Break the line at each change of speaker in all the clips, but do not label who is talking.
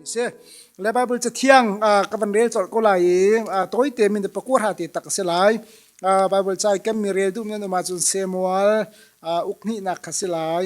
si le bible ca thiang ka van rel chol ko lai i toy te min de pakua ha te tak se lai bible ca kan mi rel du men ma chun semual uk ni nak kha si lai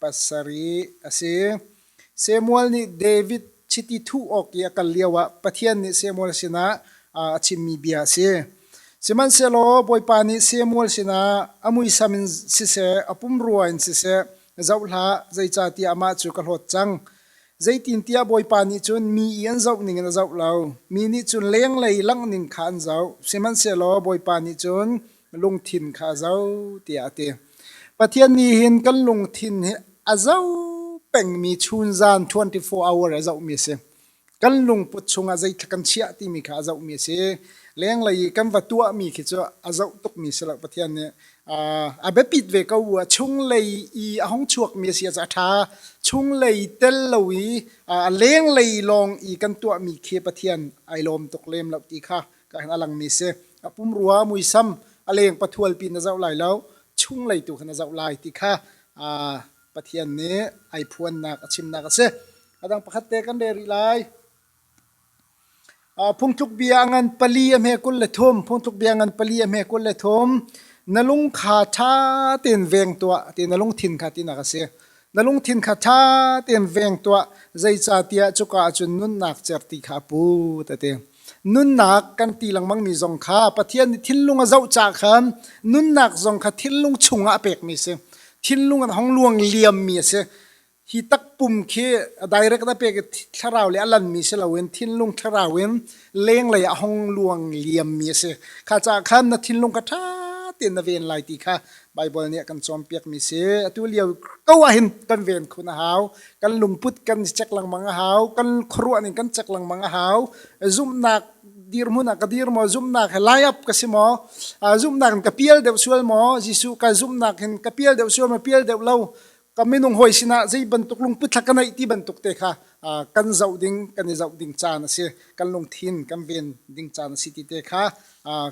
pasarih a si. Samuel nih David chiti thuh awk i a kal lioah Pathian nih Samuel sinah a chimmi bia a si. Sihmanhsehlaw Bawipa nih Samuel sinah a muisam in siseh, a pumrua in siseh, zoh hlah, zeicahtiah amah cu ka hlawt cang. Zeitintiah Bawipa nih cun mi i an zoh ningin a zoh lo, mi nih cun lenglei langhning kha an zoh. Sihmanhsehlaw Bawipa nih cun lungthin kha a zo tiah a ti. Pathian nih hin kan lungthin hi a zo pengmi chun zan 24 hour a zohmi a si. Kan lungput chungah zeitluk kan chiah timi kha a zohmi a si. Lenglei i kan va tuahmi khi cu a zoh tukmi si lo Pathian nih a biapit ve ko a chunglei i a hong chuakmi a si a ṭha chunglei tel lo i a lenglei lawng i kan tuahmi khi Pathian ai lawm tuk lem lo ti kha ka hang a langmi si a pumrua muisam a leng pathual pi na zoh lai lo chung lei tu kha na zoh lai ti kha pathian nih ai phuannak a chimnak a si adang pakhat te kan reh rih lai phungtluk bia ngan pali a hme kul le thum phungtluk bia ngan pali a hme kul le thum na lung kha ṭha tein veng tuah ti na lungthin kha ti nak a si na lungthin kha ṭha tein veng tuah zeicahtiah cuka ah cun nunnak cer ti kha pu ta te Nunnak kan ti lengmangmi zong kha Pathian nih thinlung a zoh caah khan nunnak zong kha thinlung chungah a pekmi a si. Thinlung in hong luang liammi a si. Hi takpum khi direct a pek i thlarau le a lanmi si loin thinlung thlarau in lenglei ah hong luang liammi a si. Kha caah khan na thinlung kha ṭha tein na ven lai ti kha Baibal nih a kan cawnpiakmi si atu lio ko ahhin kan ven khun a hau kan lungput kan i chek lengmang a hau kan khuaruah ning kan chek lengmang a hau zumhnak dirhmun ah ka dir maw zumhnak he lai up ka si maw zumhnak in ka pial deuh sual maw Jesuh ka zumhnak hin ka pial deuh sual maw pial deuh lo ka minung hawi sinah zei bantuk lungpitla ka neih ti bantuk te kha kan zoh ding kan i zoh ding caan a si kan lungthin kan ven ding caan a si ti te kha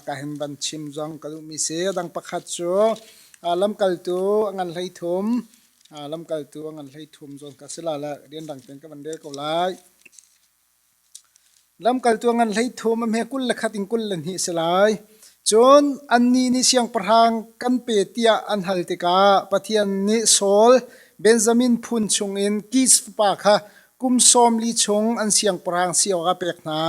ka hin van chim zong ka duhmi si dang pakhat cu lamkaltu ngan hlei thum lamkaltu ngan hlei thum zawn ka si la la rian rang ten ka van rel ko lai Lamkaltu a ngan hleithum a hme kul le khat in kul le hnih a si lai. Cun annih nih siangpahrang kan pe tiah an hal tikah Pathian nih Saul Benjamin phun chungin Kish fapa kha kum sawm li chung an siangpahrang si awkah a pek hna.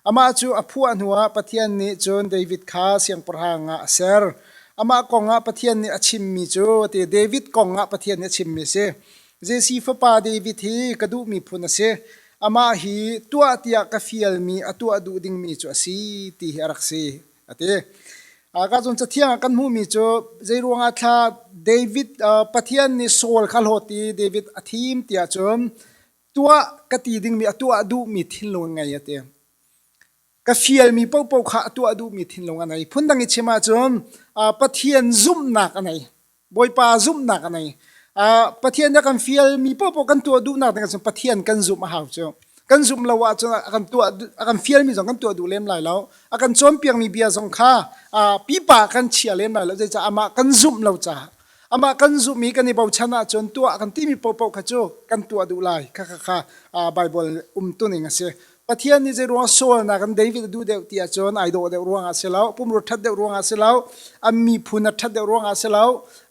Amah cu a phuah hnuah Pathian nih cun David kha siangpahrang ah a ser. Amah kongah Pathian nih a chimmi cu a ti, David kongah Pathian nih a chimmi a si. Jesse fapa David hi ka duh miphun a si. Amah hi tuah tiah ka fialmi a tuah duh dingmi cu a si ti hi a rak si a ti. Ka cun cathiang ah kan hmuhmi cu zeiruangah thla David Pathian nih Saul kha hlawt i David a thim tiah cun tuah ka ti dingmi a tuah duhmi thinlung ngei a ti. ka fialmi paohpaoh kha a tuah duhmi thinlung a nei. Phundang i chim ahcun Pathian zumhnak a nei. Bawipa zumhnak a nei. Pathian a kan fialmi paohpaoh kan tuah duhnak ding ahcun Pathian kan zumh a hau cu. Kan zumh lo ahcun a kan tuah a kan fialmi zong kan tuah duh lem lai lo. A kan cawnpiakmi bia zong kha pipa kan chia lem lai lo. Zeicah amah kan zumh lo caah. Amah kan zumh i kan i bochan ahcun tuah a kan timi paohpaoh kha cu kan tuah duh lai. Kha kha Baibal umtuning a si. Pathian nih zeiruang sualnak in David a duh deuh ti ahcun ai dawh deuh ruangah si lo, pumrua ṭhat deuh ruangah si lo, an miphun a ṭhat deuh ruangah si lo,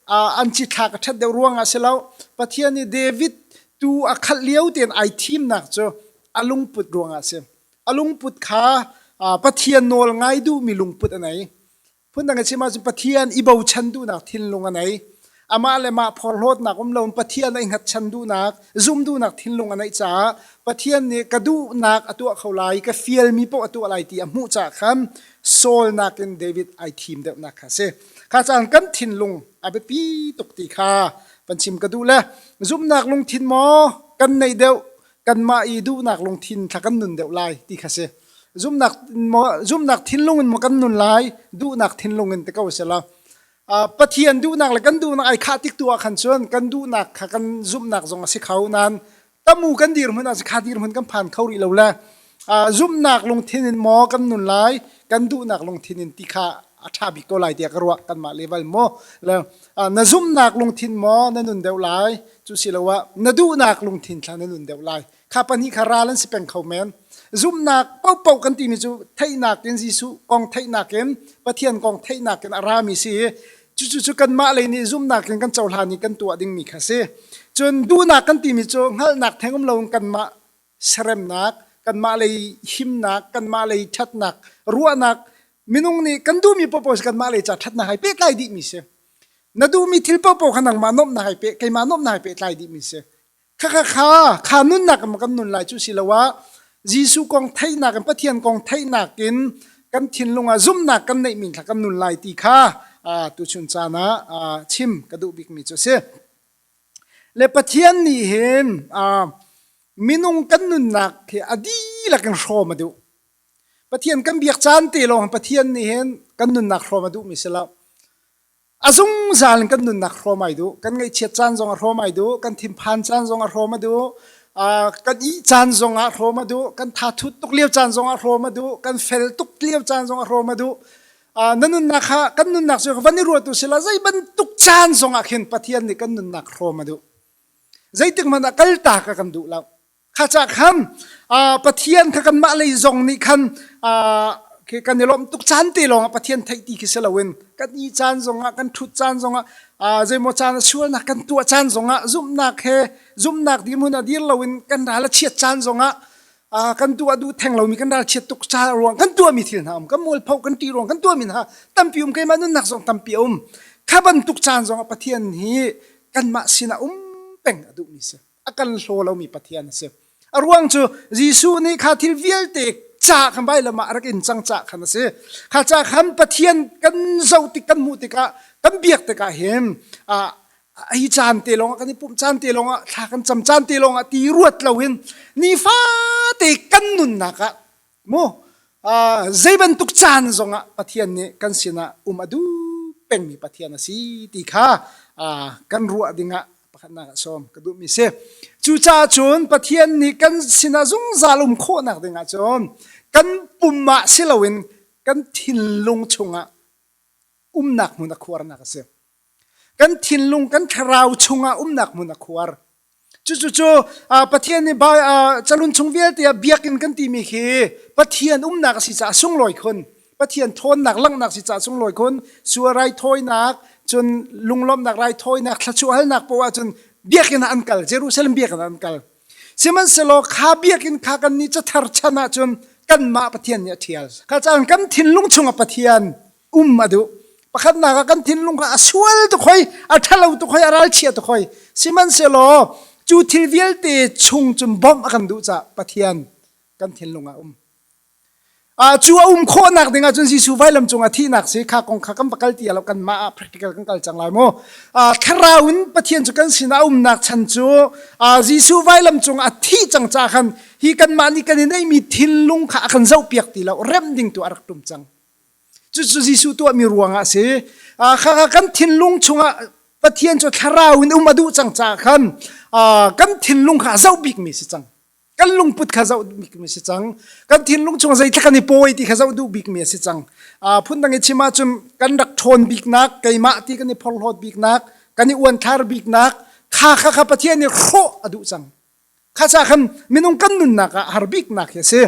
an cithlak a ṭhat deuh ruangah si lo, Pathian nih David tuu a khalh lio tein ai thimnak cu a lungput ruangah a si. A lungput kha Pathian nawl ngai duhmi lungput a nei. Phundang a chim ahcun Pathian i bochan duhnak thinlung a nei. Amah le mah phorhlawtnak um loin Pathian ai hngatchan duhnak, zum duhnak thinlung a neih caah Pathian nih ka duhnak a tuah kho lai, ka fialmi paoh a tuah lai ti a hmuh caah khan sawlnak in David ai thim deuhnak kha a si. Kha caan kan thinlung a biapi tuk ti kha van chim ka duh le zumhnak lungthin maw kan neih deuh kanmah i duhnak lungthin thla kan nun deuh lai ti kha si zumnak maw zumnak thinlung in maw kan nun lai duhnak thinlung in te ko si la pathian duhnak le kan duhnak ai khah tik tu ah khan cun kan duhnak kha kan zumhnak zong a si kho nan tamu kan dir hmun ah si kha dir hmun kan phan kho rih lo le zumhnak lungthin in maw kan nun lai kan duhnak lungthin in ti kha a ṭha bik ko lai tiah ka ruah kanmah level maw na zumhnak lungthin maw na nun deuh lai cu siloah na duhnak lungthin thla na nun deuh lai kha pahnih kha ral an si peng kho men zumhnak popo kan timi cu theihnak in Jesuh kong theihnak in Pathian kong theihnak in a rami si cucu cu kanmah lei nih zumhnak in kan cohlan i kan tuah dingmi kha si cun duhnak kan timi cu hngalhnak theng um loin kanmah seremnak, kanmah lei himnak, kanmah lei ṭhatnak, ruahnak, minung nih kan duhmi paohpaoh si kanmah lei ca ṭhatnak hai pehtlai dihmi si. Na duhmi thil paohpaoh kha nangmah nuamhnak hai peh, keimah nuamhnak hai pehtlai dihmi si. Khakha kha, kha nunnak in kan nun lai cu si lo ah, Jesuh kong theihnak in Pathian kong theihnak in kan thinlung ah zumhnak kan neihmi thla kan nun lai ti kha tu chun caan ah chim ka duh bikmi cu a si. Le Pathian nih hin minung kan nunnak hi a dihlak in hrawm a duh. Pathian kan biak caan te lawng Pathian nih hin kan nunnak hrawm a duhmi si lo. A zungzal in kan nunnak hrawm ai duh. Kan ngaihchiat caan zong a hrawm ai duh. Kan thinphan caan zong a hrawm a duh. kan ih caan zong ah hrawm a duh. Kan tha thut tuk lio caan zong ah hrawm a duh. Kan fel tuk lio caan zong a hrawm a duh. na nunnak kha kan nunnak cu van i ruatu sila zei bantuk caan zongah khin Pathian nih kan nunnak hrawm a duh zeitik hmanh ah kalta ka kan duh lo kha ca khan Pathian kha kanmah lei zong nih khan kan i lawmh tuk caan te lawngah Pathian theih ti khi si loin kan i caan zongah kan ṭhut caan zongah zeimaw caan a sualnak kan tuah caan zongah zumhnak he zumhnak dihmun a dir loin kan ral a chiat caan zongah Ah, kan tu a du theng lomi kan ral chiat tuk ca ruang kan tuami thil hna um kan mualpho kan ti ruang kan tuami hna tampi um keimah nunnak zong tampi a um kha bantuk caan zong a pathian hi kanmah sinah um peng a duhmi si a kan hlo lomi pathian a si a ruang cu Jesuh nih kha thil vialte ca khan bai lamah rak in cang ca khan a si kha ca khan pathian kan zoh tik kan hmuh tikah kan biak tikah hin ah ai caan te lawngah kan i pumh caan te lawngah thla kan cam caan te lawngah ti ruat lo in nifaate kan nunnak ah mu uh, zei bantuk caan zongah pathian nih kan sinah um a duh pengmi pathian a si ti kha uh, kan ruah dingah pakhatnak ah sawm ka duhmi si cucaah cun pathian nih kan sinah zungzal um khawhnak dingah cun kan pum ah si loin kan thinlung chungah umnak hmun a khuarnak a si Kan thinlung kan thlarau chungah umnak hmun a khuar. Cucucu Pathian nih calun chung vialte ah biakinn kan timi khi Pathian umnak a si caah sunglawi khun. Pathian thawnnak langhnak si caah sunglawi khun. Sual raithawinak, cun lunglawmhnak raithawinak, thlachuahhalnak poah ahcun biakinn ah an kal. Jerusalem biakinn ah an kal. Sihmanhsehlaw kha biakinn kha kannih cather chan ahcun kanmah Pathian nih a ṭhial. Kha caan kan thinlung chungah Pathian um a duh pakhatnak ah kan thinlung kha a sual tuk hoi a ṭhalo tuk hoi a ralchia tuk hoi sihmanhsehlaw cu thil vialte chung cun bawmh a kan duh caah Pathian kan thinlung ah um uh, cu a um khawhnak ding ahcun Jesuh vailam cungah thihnak si kha kong kha kan pakal ti lo kan mah ah practical kan kal cang lai mu uh, thlarau in Pathian cu kan sinah umnak chan cu uh, Jesuh vailam cungah thi cang ca khan hi kan mah nih kan i neihmi thilung kha a kan zohpiak ti lo rem ding tu a rak tum cang Cucu Jesuh tuahmi ruangah a si. Ah, khaka kan thinlung chungah Pathian cu thlarau in um a duh cang caah khan kan thinlung kha a zoh bikmi si cang. Kan lungput kha zoh bikmi si cang. Kan thinlung chungah zeitlak kan i pawi ti kha zoh duh bikmi si cang. phundang i chim ahcun kan rak ṭhawn biknak, keimah ti kan i phorhlawt biknak, kan i uanthlar biknak, kha kha kha Pathian nih hrawh a duh cang. Khaca khan minung kan nunnak ah har biknak hi a si.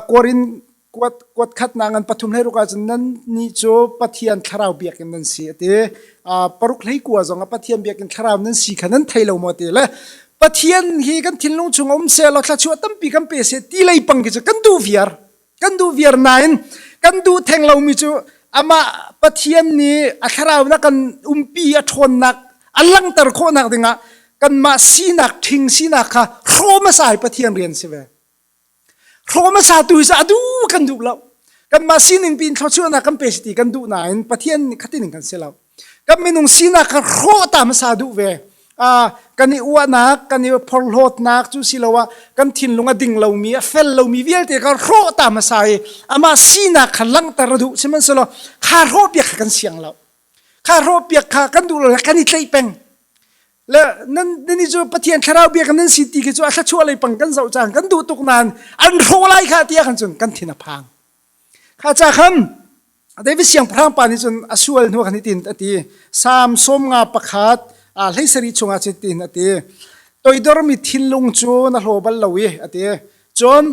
Kuarin kuat kuat khatnak ngan pathum hlei ruk ahcun nan ni cu Pathian thlarau biakinn nan si a ti. Paruk hlei kua zong a Pathian biakinn thlarau nan si kha nan thei lo maw ti le Pathian hi kan thinlung chung a um se law thla chuah tampi kan pe se ti lei pang khi cu kan duh viar. kan duh viar nain kan duh theng lomi cu amah pathian nih a thlaraunak kan umpi a ṭhawnnak a langhter khawhnak dingah kanmah sinak ṭhing sinak kha hrawm a sai pathian rian si ve hrawm a sa tu hi a duh kan duh lo kanmah sining piin thluachuahnak kan pe si ti kan duh nain pathian nih khatining kan si lo kan minung sinak kan hrawhta hmasa duh ve uh, kan i uahnak kan i phorhlawtnak cu siloah kan thinlung a ding lomi a fel lomi vialte kan hrawhta hmasa i amah sinak kha langhter a duh sihmanhsehlaw kha hrawhpiak kha kan siang lo kha hrawhpiak kha kan duh lo le kan i tleih peng le nan nan i cu pathian thlarau biak nan si ti khi cu a thlachuah lei pang kan zoh cang kan duh tuk nain an hrawh lai kha tiah kan cun kan thin a phang kha ca kham David siangpahrang pa nih cun a sual hnu khan hitin a ti Samson nga pakhat a hleisari chungah cutin a ti toidormi thinlung cu na hlaw bal lo i a ti cun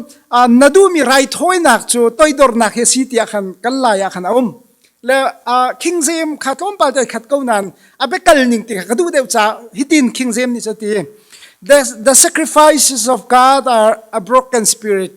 na duhmi raithawinak cu toidornak hi a si tiah khan kan lai ah khan a um le king zem kha tlawmpal te khat ko nan a bekal ning ti ka duh deuh ca hitin king zem nih cu ti the, the sacrifices of God are a broken spirit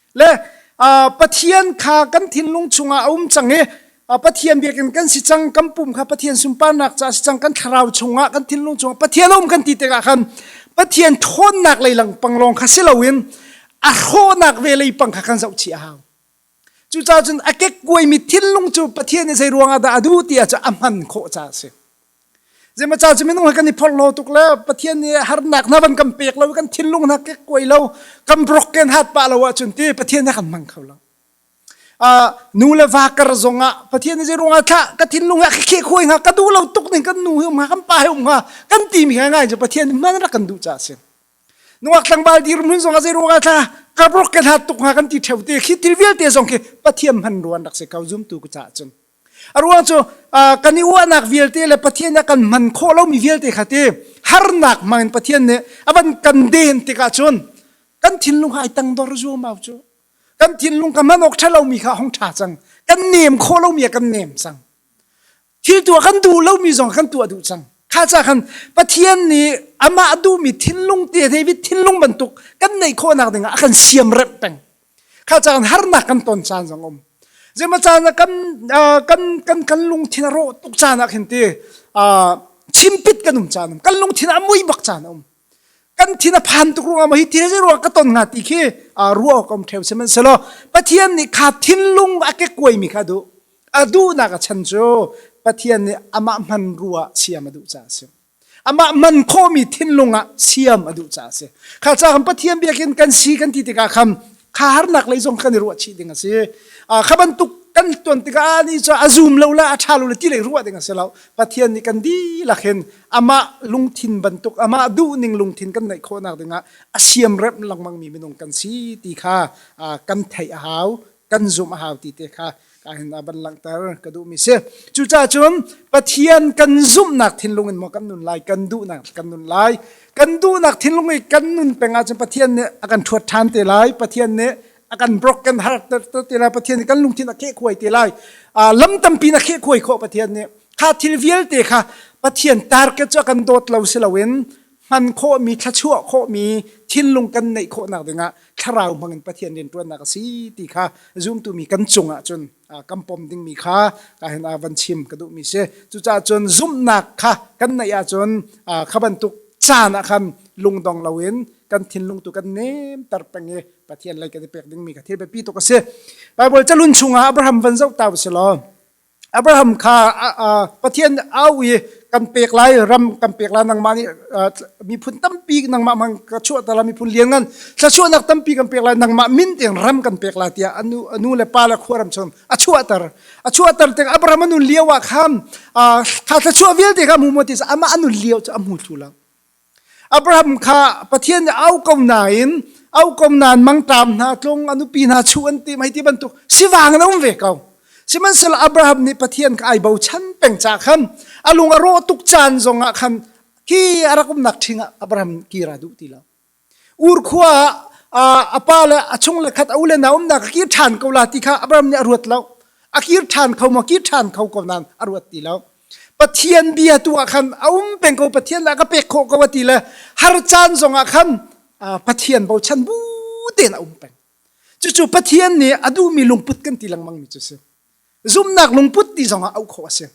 le pathian kha kan thinlung chungah a um cang i pathian biakinn kan si cang kan pum kha pathian sunparnak ca si cang kan thlarau chungah kan thinlung chungah pathian a um kan ti tikah khan pathian ṭhawnnak lei langpang lawng kha si loin a hrawhnak ve lei pang kha kan zoh chih a hau cucaah cun a kekkuai mi thinlung cu pathian i zei ruangah dah a duh tiah cu a hman khawh ca a si Zeimacau cu minung he kan i phorh lo tuk le Pathian nih harnak hna van kan pek lo kan thinlung hna kek kuai lo kan brok ken hat pah lo ahcun ti Pathian nih kan hmang kho lo. Uh, nu le va kar zong ah Pathian nih zeirung ah thlah ka thinlung ah khikhe khuai nga ka duh lo tuk ning kan nu heum ha kan pa heum ha kan ti mi ngai je Pathian nih man rak kan duh ca sin. Nungak tlangbal dir mun zong ah zeirung ah thlah ka brok ken hat tuk ha kan ti theu te khi thil vialte zong khi Pathian man ruan rak se kau zum tu ka ca cun. A ruang cu kan i uahnak vialte le Pathian ah kan man khawh lomi vialte kha ti harnak hmangin Pathian nih a van kan den tikah cun kan thinlung ai tang dor zuamau cu kan thinlung ka man awk ṭhalomi kha hong ṭha cang kan nem khawh lomi a kan nem cang thil tuah kan duh lomi zong kan tuah duh cang kha ca khan Pathian nih amah duhmi thinlung te hei thinlung bantuk kan neih khawhnak dingah a kan siam rep peng kha caan harnak kan ton caan zong um zema caan ah kan kan kan kan lungthin a rawh tuk caan ah khin ti chimpit kan um caan um kan lungthin a mui bak caan um kan thin a phan tuk ruang ah hi ti re ruang ka ton nga ti khi ruwa kom theu semen selo pathian nih kha thinlung a ke kuai mi kha du a duh nak a chan cu pathian nih amah hman ruwa siam a duh ca a si amah man khawhmi thinlung ah siam a duh caah a si kha ca kan pathian biakin kan si kan ti tikah khan kha harnak lei zong kan i ruah chih ding a si kha bantuk kan tuan tikah ni cu a zum lo le a ṭha lo le ti lei ruah ding a si lo pathian nih kan dihlak hin amah lungthin bantuk amah duhning lungthin kan neih khawhnak dingah a siam rem lengmang mi minung kan si ti kha kan theih a hau kan zumh a hau ti te kha ka hin a van langhter ka duhmi si cucaah cun Pathian kan zumhnak thinlung in maw kan nun lai kan duhnak kan nun lai kan duhnak thinlung i kan nun peng ahcun Pathian nih a kan thuat ṭhan te lai Pathian nih a kan brok kan har te lai Pathian nih kan lungthin a kheh khuai te lai lam tampi na kheh khuai khawh Pathian nih kha thil vialte kha Pathian target cu a kan dawt lo si loin hman khawhmi thluachuah khawhmi thinlung kan neih khawhnak dingah thlarau hmangin Pathian rianṭuannak a si ti kha zumtumi kan cungah cun kan pom dingmi kha hin a van chim ka duhmi si cucaah cun zumhnak kha kan neih ahcun kha bantuk caan ah khan lungdong loin kan thinlung tu kan nemter peng i Pathian lei kan i pek dingmi kha thil biapi tuk a si Baibal calun chungah Abraham van zoh ta u sih law Abraham kha Pathian au i kan pek lai ram kan pek lai nangmah nih miphun tampi nangmah mang ka chuah ta la miphun lianngan thlachuahnak tampi kan pek lai nangmah min tiang ram kan pek lai tiah anu anu le pa le khuaram chung a chuahter a chuahter tik Abraham anu lio ah khan kha thlachuah vialte kha mu mu ti amah anu lio cu a hmu thlu lo Abraham kha Pathian nih au ko nain au ko nan mangṭam hna tlung a nupi hna chu an ti mei ti bantuk sivang in a um ve ko sihmanhsehlaw Abraham nih Pathian kha ai bochan peng ca khan a lung a rawh tuk caan zongah khan hi a rak umnak ṭhing ah Abraham kira duh ti lo ur khua ah a pa le a chung le khat a u le na umnak a kir ṭhan ko la ti kha Abraham nih a ruat lo a kir ṭhan kho maw kir ṭhan kho ko nan a ruat ti lo Pathian bia tu ah khan a um peng ko Pathian lah ka pek khawh ko a ti le har caan zong ah khan Pathian bochan bu tein a um peng cucu Pathian nih a duhmi lungput kan ti lengmang mi cu si zumnak lungput ti zong ah auh khawh a si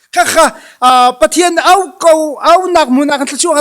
khakha Pathian au ko au nak mun ah kan thluachuah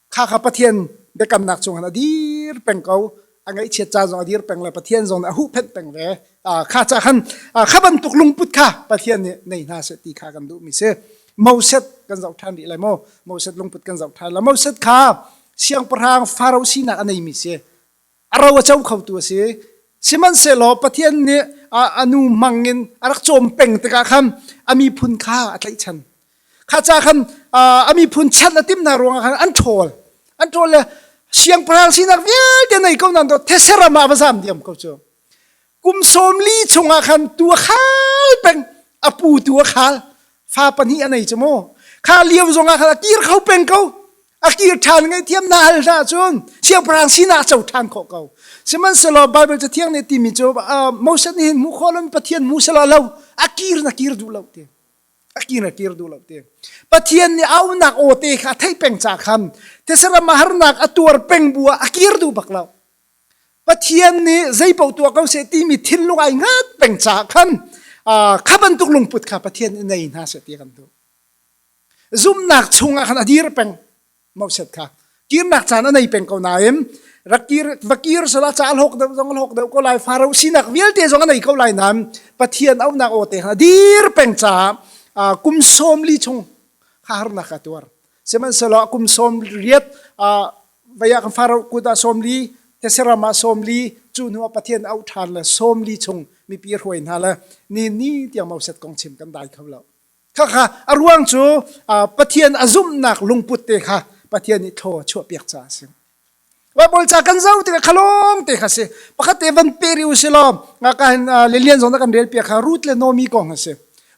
kha kha pathian biakamnak cungin a dir peng ko a ngaihchiat ca zong a dir peng le pathian zong nih a huhphenh peng ve kha ca khan kha bantuk lungput kha pathian nih nei hna seh ti kha kan duh mi si moset kan zoh ṭhan rih lai maw moset lungput kan zoh ṭhan la moset kha siangpahrang farao sinak a nei mi si a ro a co khotu a si sihmanhsehlaw Pathian nih a nu mang in a rak cawm peng tikah khan a miphun kha a tlaihchan kha ca khan a miphun chan a tim hna ruangah khan an ṭhawl an ṭhawl le siangpahrang sinak vialte nei ko nan dawt theseram ah va zam diam ko cu kum sawm li chungah khan tu a khal peng a pu tu a khal fa pahnih a nei cu mu kha lio zongah khan a kir kho peng ko a kir ṭhan ngaihthiam hna hal hna cun siangpahrang sinah a co ṭhan khawh ko sihmanhsehlaw Baibal cathiang nih timi cu Moses nih hin hmuh khawh lomi Pathian hmu selaw lo a kir na kir duh lo ti a kir na kir duh lo ti Pathian nih aunak awte kha a theih peng ca kham thesaram a harnak a tuar peng bu ah a kir duh bak lo Pathian nih zeipaoh tuah ko seh timi thinlung ai ngat peng ca khan kha bantuk lungput kha Pathian nih nei hna seh ti kan duh zumnak chungah khan a dir peng mauset kha kirnak caan a nei peng ko nain rakir va kir sala ca hlawk deuh zong hlawk deuh ko lai farao sinak vialte zong a nei ko lai nain pathian aunak aw te khan a dir peng caah kum sawm li chung kha harnak a tuar sihmanhsehlaw kum sawm riat vaya kan farao kut ah sawm li teseram ah sawm li cu hnu ah pathian auh ṭhan le sawm li chung mipi hruai hna le ni ni tiang mauset kong chim kan dai kho lo Khakha a ruang cu Pathian a zumhnak lungput te kha Pathian nih thlaw a chuahpiak caah a si. Baibal ca kan zoh tikah khalawng te kha si. Pakhat te van pe ri u si law, nga ka hin lilian zong na kan rel piak kha Ruth le Nomi kong a si.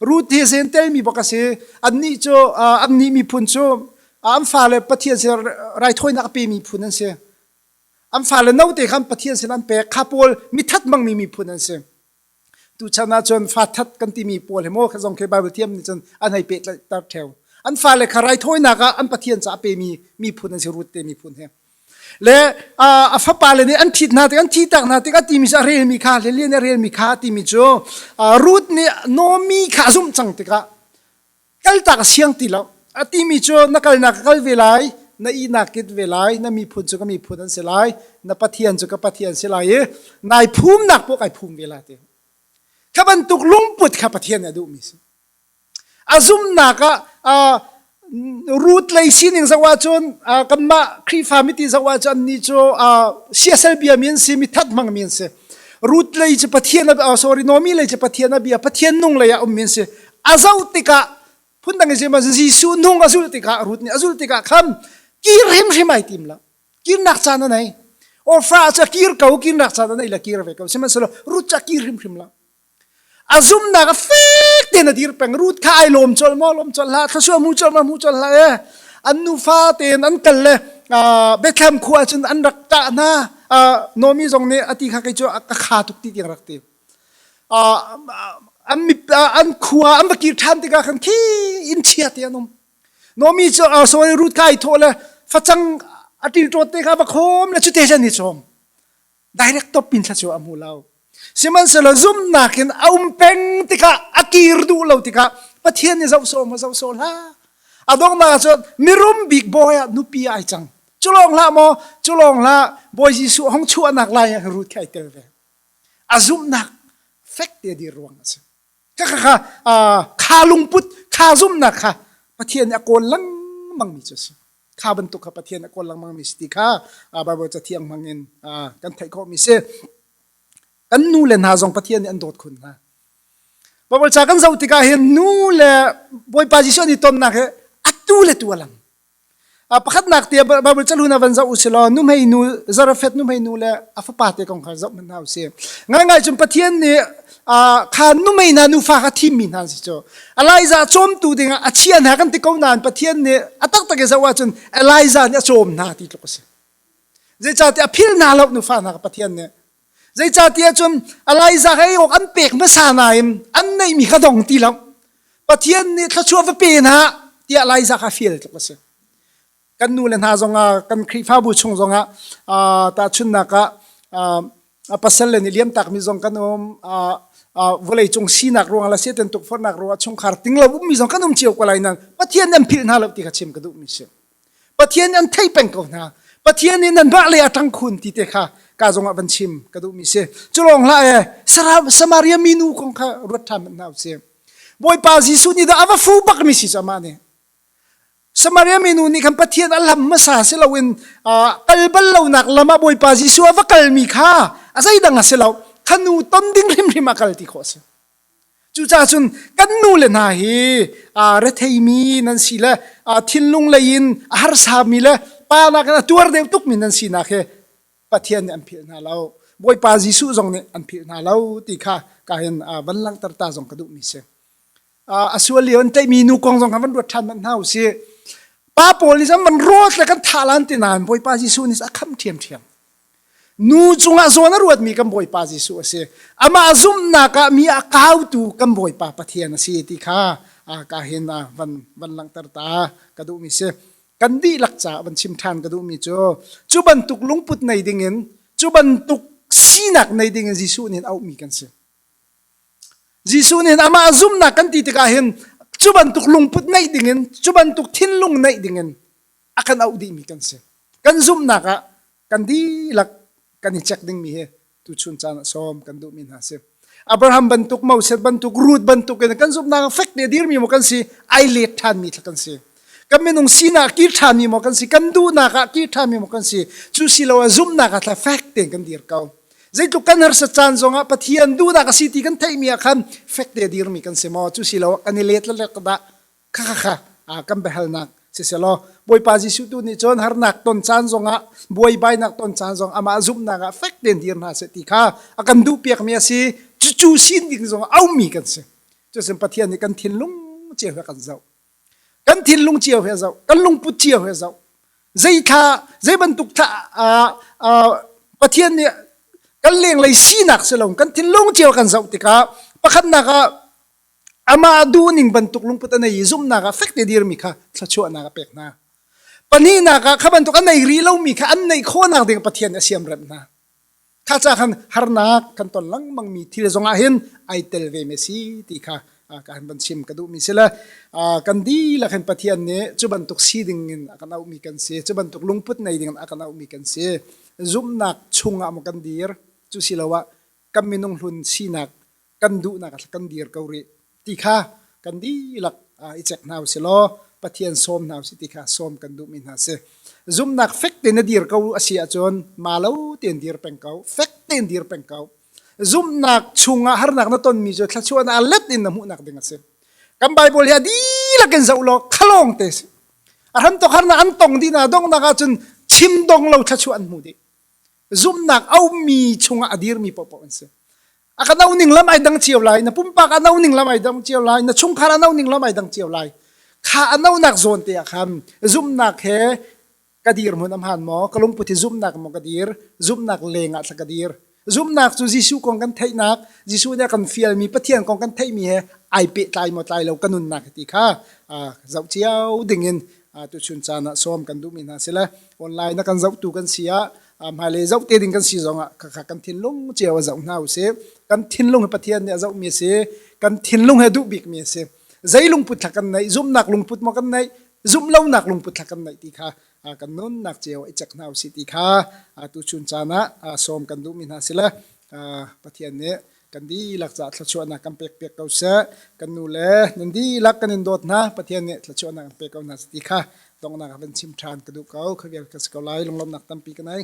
Ruth hi Zentel mi bak a si. Annih cu annih miphun cu an fale Pathian sin raithawinak a pe miphun an si. An fale note khan Pathian sin an pek. Kha pawl mi thatmangmi miphun an si. Tuchan ah cun fa that kan timi pawl he maw zong khi Bible thiam nih cun an hei pehtlaitar theo. An fale kha raithawinak ah an pathian ca a pemi miphun an si rut te miphun he. Le a fapa le nih an thit hna tik an thi tak hna tik a timi cu a relmi kha lilian a relmi kha timi cu Ruth nih Nomi kha a zumh cang tikah kaltak siang ti lo a timi cu na kalnak ka kal ve lai na ihnak kit ve lai na miphun cu ka miphun an si lai na pathian cu ka pathian si lai i nai phumnak pawh kai phum ve la te kha bantuk lungput kha pathian nih a duhmi si a zumnak ah root lei sining zoh ahcun kanmah khrihfa miti zoh ahcun ni cu siasal bia mi an si mi that hmang mi an si root lei cu pathian a sorry nomi lei cu pathian a bia pathian nung lei ah um mi an si a zoh tikah phundang i zeimah Jesuh nung a zul tikah Ruth nih a zul tikah khan kir hrimhrim ai tim lo kirnak caan a nei ofra cu kir ko kirnak caan a nei la kir ve ko sihmanhsehlaw Ruth cu a kir hrimhrim lo a zumnak a fek tein a dir peng Ruth kha ai lawm colh maw lawm colh hlah thlasua mu colh maw mu colh hlah e an nufa tein an kal le Bethlehem khua cun an rak tah hna Nomi zong nih a ti kha kei cu a kha tuk ti tiang rak ti an khua an va kir ṭhan tikah khan khi inn chia te an um. Nomi cu sawi rut kai thaw le facang a ṭilṭawt te kha va khom le cute jan hi chom. Direct top pin thla cu a hmu lo. Sihmanhsehlaw zumnak in a um peng tikah a kir duh lo tikah Pathian nih zoh sawm zoh sawm hla. A dongnak cu mirum bik bawi ah nupi ai cang. Cu lawng hlah maw, cu lawng hlah, Bawi Jesuh hong chuahnak lai ah rut kha ai tel ve. a zumhnak fek te a dir ruang a si ka kha kha kha lungput kha zumhnak kha pathian nih a kawl lengmang mi cu a si kha bantuk kha pathian a kawl lengmang mi si ti kha bible cathiang hmang in kan theih khawh mi si kan nu le hna zong pathian nih an dawt khun hna Bible ca kan zoh tikah hin nu le Bawipa Jesuh ni tonnak hi atu le tu a lang pakhatnak te Bible chalu na van zoh u si law nuhmei nu Zarafet nuhmei nu le a fapa te kong kha zoh hmanh hna u si ngai ngai cun Pathian nih kha nuhmei na nufa kha thim mi hna si cu Elijah cawmtu dingah a chia hna kan ti ko nain Pathian nih a taktak i zoh ahcun Elijah nih a cawm hna ti tluk a si zeicahtiah a phil hna lo nufa hna Pathian nih Zeicahtiah cun Elijah hei awk an pek hmasa nain an neihmi kha dong ti lo. Pathian nih thluachuah va pe hna tiah Elijah kha fial tluk a si. Kan nu le hna zongah kan Khrihfabu chung zongah tahchunnak ah pasal le nih liam takmi zong kan um vawlei cung sinak ruangah le setan tukforhnak ruangah chungkhar ting lo ummi zong kan um cio ko lai nain Pathian nan philh hna lo ti kha chim ka duhmi a si. Pathian nih an theih peng ko hna. Pathian nih nan mah le a ṭang khun ti te kha ka zongah van chim ka duhmi si. Culong hla e Samaria minu kong kha ruat ṭhan hna u sih. Bawipa Jesuh nih dah a va fu bakmi si cama nih. Samaria minu nih khan Pathian a lam hmasa si loin kal bal lonak lam ah Bawipa Jesuh a va kalmi kha a zeidang a si lo khanu ton ding hrimhrim a kal ti khawh a si. Cucaah cun kan nu le hna hi retheimi nan si le thinlung lei in a harsami le pa nakin a tuar deuh tukmi nan sinak hi Pathian nih an philh hna lo. Bawipa Jesuh zong nih an philh hna lo ti kha ka hin van langhter ta zong ka duhmi si. a sual lio an tlaihmi nu kong zong kha van ruat ṭhan manh hna u sih. Pa pawl nih cun van rawt le kan thah lan ti nain Bawipa Jesuh nih a kham ṭhiamṭhiam. Nu cungah zawn a ruatmi kan Bawipa Jesuh a si. Amah zumhnak ah mi a kautu kan Bawipa Pathian a si ti kha ka hin van, van langhter ta ka duhmi si. Kan dihlak caah van chim ṭhan ka duhmi cu, cu bantuk lungput nei dingin, cu bantuk sinak nei dingin Jesuh nih auhmi kan si. Jesuh nih amah zumhnak kan ti tikah hin, cu bantuk lungput neih dingin, cu bantuk thinlung neih dingin a kan auh dihmi kan si kan zumhnak ah kan dihlak kan i check dingmi hi tuchun caan ah sawm kan duhmi hna si Abraham bantuk Moses bantuk Ruth bantuk in kan zumhnak fek te dirmi mo kan si ai lek ṭhanmi thla kan si kan minung sinak kir ṭhanmi mo kan si kan duhnak ah kir ṭhanmi mo kan si cu si lo ah zumhnak ah thla fek te kan dir ko zeitluk kan harsa caan zong ah Pathian duhnak a si ti kan theihmi ah khan fek te dirmi kan si maw cu si lo kan i let le dah kha kha kha kan biahalnak siselaw Bawipa Jesuh tu nih cun harnak ton caan zongah buaibainak ton caan zong amah zumhnak ah fek tein dir hna seh ti kha a kan duh piakmi a si cucu sin ding zong aumi kan si cusin Pathian nih kan thinlung cio he kan zoh kan thinlung cio he zoh kan lungput cio he zoh zei thla zei bantuk thla Pathian nih kan lenglei sinak si lo kan thinlung cio kan zoh tikah pakhatnak ah Amah duh ning bantuk lungput a nei i zumhnak ah fek te dirmi kha thluachuahnak a pek hna. Pahnihnak ah, kha bantuk a nei rih lomi kha an neih khawhnak ding Pathian a siam rem hna. Kha ca khan harnak kan ton lengmangmi thil zongah hin ai tel ve me si ti kha kan van chim ka duhmi si le kan dihlak hin Pathian nih cu bantuk si dingin a kan auhmi kan si cu bantuk lungput nei dingin a kan auhmi kan si zumhnak chungah maw kan dir cu siloah kan minung hlun sinak kan duhnak kan dir ko rih ti kha kan dihlak i cek hna usih law Pathian sawm hna usih ti kha sawm kan duhmi hna si zumnak fek tein na dir ko a si ahcun ma lo tein dir peng ko fek tein dir peng ko zumnak chungah harnak na tonmi cu thluachuahnak let in na hmuhnak ding a si kan Bible hi a dihlak in zoh law khalong te si a hran tok harnak an tong dih na donghnak ahcun chim dong lo thluachuah an hmu dih zumnak aumi chungah a dirmi popoh an si aka no ning lam ai dang cio lai na pumpak a no ning lam ai dang cio lai na chungkhar a no ning lam ai dang cio lai kha a no nak zawn te ah khan zumnak he ka dir mun am han mo ka lungput hi zumnak mo ka dir zumnak leng ah ka dir zumnak cu Jesuh kong kan theihnak Jesuh nih kan fial mi Pathian kong kan theih mi he ai pe tlai mo tlai lo ka nun nak ti kha zau ciao ding in tu chun chan ah som kan duh mi hna sila online na kan zauh tu kan sia hmailei zoh te ding kan si zong ah kha kan thinlung cio a zoh hna usih kan thinlung he Pathian nih a zoh mi a si kan thinlung he duh bik mi a si zei lungput thla kan neih zumnak lungput maw kan neih zumh lonak lungput thla kan neih ti kha kan nunnak cio i cek hna usih ti kha tu chun caan ah sawm kan duh mi hna sila Pathian nih kan dihlak caah thluachuahnak kan pekpiak ko seh kan nu le nan dihlak kan in dawt hna pathian nih thluachuahnak an pek ko hna ti kha donghnak ah van chim ṭhan ka duh ko kha vial ka si ko lai lunglawmnak tampi ka nei